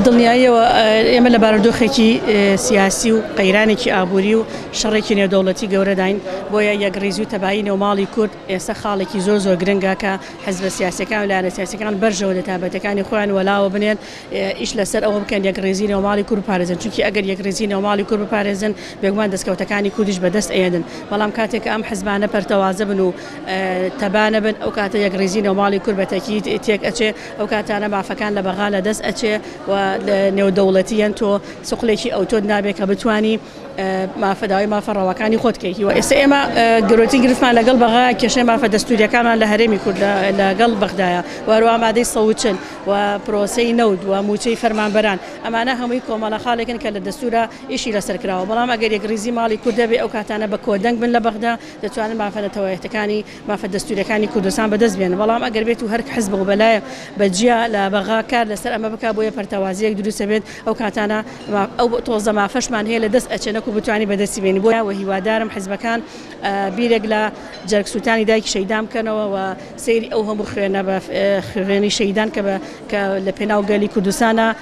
دڵنیاییەوە ئێمە لە بارودۆخێکی سیاسی و قەیرانێکی ئابووری و شەڕێکی نێودەوڵەتی گەورەداین، بۆیە یەکڕیزی و تەبایی نێوماڵی کورد ئێستا خاڵێکی زۆر زۆر گرنگە کە حزبە سیاسیەکان و لایەنە سیاسیەکان بەرژەوە دە تابەتەکانی خۆیان وەلاوە بنێن ئیش لەسەر ئەوە بکەن یەکڕیزی نێوماڵی کورد بپارێزن چونکی ئەگەر یەکڕیزی نێوماڵی کورد بپارێزن بێگومان دەستکەوتەکانی کوردیش بەدەست ئەیەنن بەڵام کاتێک کە ئەم حزبانە پەرتەوازە بن و تەبا نەبن ئەو کاتە یەکڕیزی نێوماڵی کورد بەتەکید تێک ئەچێ ئەو کاتانە مافەکان لە بەغا لە دەست ئەچێ و لە نێودەوڵەتیەن تۆ سقلێکی ئەوتۆت نابێ کە بتانی مافەداوای مافە ڕەواکانی خۆت کەیتی و ئێستا ئێمە گرۆتی گرفتمان لەگەڵ بەغا کێشەی مافە دەستوریەکانمان لە هەرێمی کورد لەگەڵ بەغدایە وەروا مادەی سەوچن و پرۆسەی نەود و موچەی فەرمانبەران ئەمانە هەمووی کۆمەڵە خاڵێکن کە لە دەستورا ئیشی لەسەر کراوە بەڵام ئەگەر یەکڕیزی ماڵی کوردەبێ ئەو کاتانە بە کۆدەنگ بن لە بەغدا دەتوانن مافە نەتەوەیەکەکانی مافە دەستووریەکانی کوردستان بەدەست بێنن، بەڵام ئەگەر بێت و هەر حزب و بەلایەک بە جیا لە بەغا کار لەسەر ئەمە بکات بۆیە پەرتەوازەیەک دروست ئەبێت ئەو کاتانە ئەو تۆزە مافەشمان هەیە لە دەست ئەچێت نەکو بتوانین بە دەستی بێنین بۆیە هیوادارم حزبەکان بیرێک لە جەرگ سووتانی دایکی شەهیدان بکەنەوە و سەیری ئەو هەموو خوێنە بە خوێنی شەهیدان کە بە کە لە پێناو گەلی کوردستانە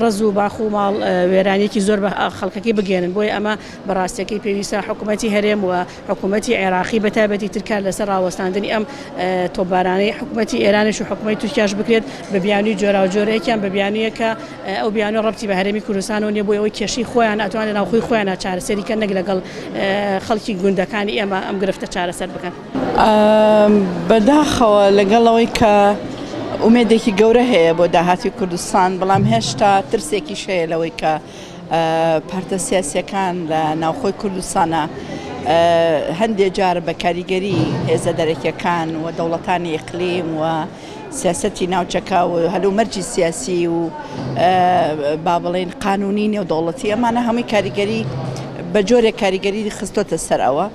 ڕەز و باخ و ماڵ وێرانیەکی زۆر بە خەڵکەکەی بگەیەنن بۆیە ئەمە بە ڕاستەکەی پێویستە حکومەتی هەرێم و حکومەتی عێراقی بە تایبەتی تر کار لەسەر ڕاوەستاندنی ئەم تۆبارانەی حکومەتی ئێرانش و حکومەتی تورکیاش بکرێت بە بیانوی جۆرا و جۆرە یەکیان بە بیانویە کە ئەو بیانوە ڕەبتی بە هەرێمی کوردستانەوە نیە بۆی ئەوەی کێشەی خۆیان ئەتوانێت ناوخۆی خۆیان چارەسەری کە نەک لەگەڵ خەڵکی گوندەکانی ئێمە ئەم گرفتە چارەسەر بکەن. بەداخەوە لەگەڵ ئەوەی کە ئومێدێکی گەورە هەیە بۆ داهاتی کوردستان بەڵام هێشتا ترسێکیش هەیە لەوەی کە پارتە سیاسیەکان لە ناوخۆی کوردستانە هەندێک جار بە کاریگەری هێزە دەرەکیەکان و دەوڵەتانی ئیقلیم و سیاستی ناوچەکە و هەلو مەرجی سیاسی و با بڵین قانونی نێودەوڵەتی ئەمانە هەمووی کاریگەری بە جۆرێک کاریگەری خستۆتە سەر ئەوە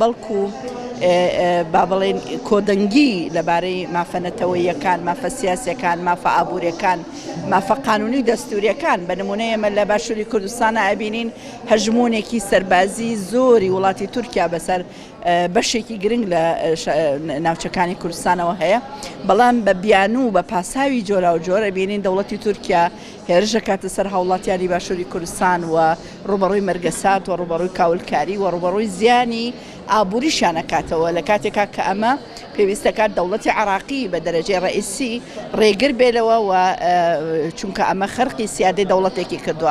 بەڵکو با بڵێین کۆدەنگی لەبارەی مافە نەتەوەییەکان، مافە سیاسیەکان، مافە ئابووریەکان، مافە قانونی و دەستوریەکان، بە نمونە ئێمە لە باشوری کوردستانا ئەبینین هەژمونێکی سەربازی زۆری وڵاتی تورکیا بەسەر بەشێکی گرنگ لە ناوچەکانی کوردستانەوە هەیە، بەڵام بە بیانوو بە پاساوی جۆراوجۆر ئەبینین دەوڵەتی تورکیا هێرش دەکاتە سەر هاوڵاتیانی باشوری کوردستان و ڕووبەڕووی مەرگەسات و ڕووبەڕووی کاولکاری و ڕووبەڕووی زیانی ئابووریشیان ئەکاتەوە لە کاتێکا کە ئەمە پێویست دەکات دەوڵەتی عێراقی بە دەرەجەی ڕەئیسی ڕێگر بێ لەوە و چونکە ئەمە خەرقی سیادەی دەوڵەتێکی کردووە.